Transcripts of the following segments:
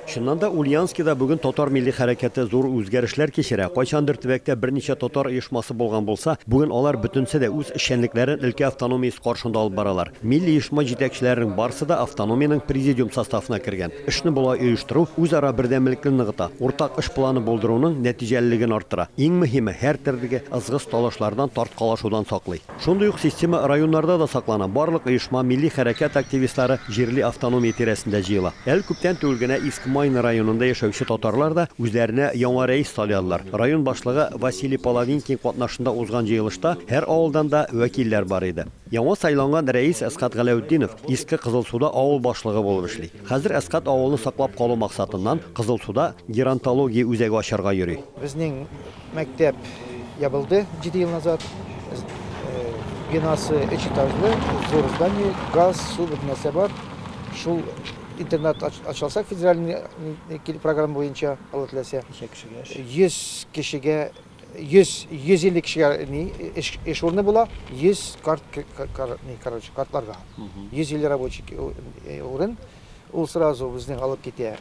Чыннан да, Ульяновскида бүген татар милли хәрәкәте зур үзгәрешләр кичерә. Кайчандыр төбәктә берничә татар оешмасы булган булса, бүген алар бөтенесе дә үз эшчәнлекләрен өлкә автономиясе каршында алып баралар. Милли оешма җитәкчеләренең барысы да автономиянең президиум составына кергән. Эшне болай оештыру үзара бердәмлекне ныгыта, уртак эш планы булдыруның нәтиҗәлелеген арттыра, иң мөһиме, һәртөрле ызгыш-талашлардан, тарткалашудан саклый. Шундый ук система районнарда да саклана, барлык оешма, милли хәрәкәт активистлары җирли автономия тирәсендә җыела. Әле күптән түгел генә Иск Майна районында яшәүче татарлар да үзләренә яңа рәис сайладылар. Район башлыгы Василий Половинкин катнашында узган җыелышта һәр авылдан да вәкилләр бар иде. Яңа сайланган рәис Әсгать Галәүтдинов Иске Кызылсуда авыл башлыгы булып эшли. Хәзер Әсгать авылны саклап калу максатыннан Кызылсуда геронтология үзәге ачарга йөри. Безнең Мәктәп ябылды 7 ел назад. Бинасы өч этажлы, зур здание, газ, су, бөтен нәрсә бар. Шул интернат ачылса федеральный программа буенча, Алла теләсә. Ничә кешегә? 100 кешегә 100 150 кешегә ни эш, эш урыны була, 100 карт кар, ни, короче, картларга. 150 рабочий урын. Ул сразу безнең алып китә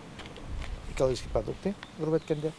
экологический продукты, грубо әйткәндә.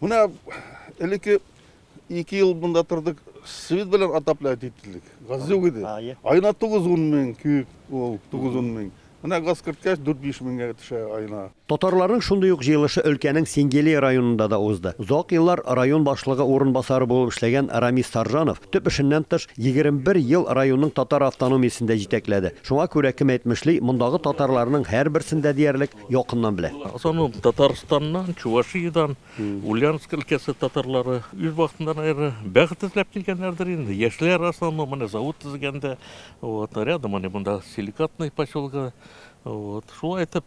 Менә элекке ике ел монда тордык, свет белән отоплять иттелек. Газ юк иде. Айына 9-10 мең кюб ул, 9-10 мең. Менә газ керткәч 4-5 меңгә төшә айына. Татарларның шундый ук җыелышы өлкәнең Сингели районында да узды. Озак еллар район башлыгы урынбасары булып эшләгән Рамис Саржанов, төп эшеннән тыш, 21 ел районның татар автономиясен дә җитәкләде. Шуңа күрә, кем әйтмешли, мондагы татарларның һәрберсендә диярлек, Якыннан белә. Азану Татарстаннан, Чувашиядән, Ульяновск өлкәсе татарлары. Үз вакытында, наверное, бәхет эзләп килгәннәрдер инде. Яшьләр основном менә завод төзегәндә. Вот, рядом они монда силикатный поселогы. Вот, шулай итеп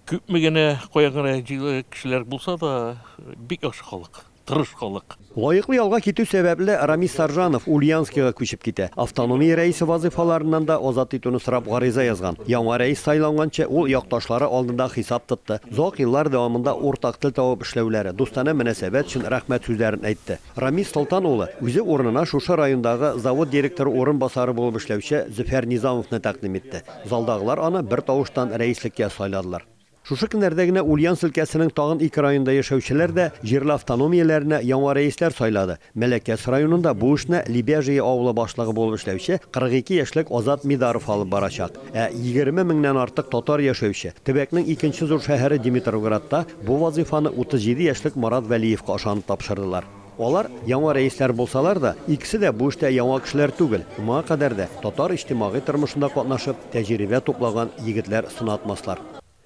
күпме генә, кая гына җыелган кешеләр булса да, бик яхшы халык. тырышкылык. Лаеклы ялга китү сәбәпле, Рамис Саржанов Ульяновскига күчеп китә. Автономия рәисе вазыйфаларыннан да азат итүне сорап гариза язган. Яңа рәис сайланганчы, ул якташлары алдында хисап тотты. Озак еллар дәвамында уртак тел табып эшләүләре, дустана мөнәсәбәт өчен рәхмәт сүзләрен әйтте. Рамис Солтан улы үзе урынына шушы райондагы завод директоры урынбасары булып эшләүче Зөфәр Низамовны тәкъдим итте. Залдагылар аны бертавыштан рәислеккә сайладылар. Шушы көннәрдә генә Ульяновск өлкәсенең тагын ике районында яшәүчеләр дә җирле автономияләренә яңа рәисләр сайлады. Мәләкәс районында бу эшне Лебяжье авылы башлыгы булып эшләүче 42 яшьлек Азат Мидаров алып барачак. Ә 20 меңнән артык татар яшәүче, төбәкнең икенче зур шәһәре Димитроградта бу вазыйфаны 37 яшьлек Марат Вәлиевка ышанып тапшырдылар. Алар яңа рәисләр булсалар да, икесе дә бу эштә яңа кешеләр түгел, моңа кадәр дә татар иҗтимагый тормышында катнашып, тәҗрибә туплаган егетләр сынатмаслар.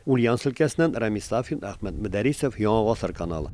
Ульяновск өлкәсеннән Рамис Сафин, Әхмәт Мөдәрисов, Яңа гасыр каналы.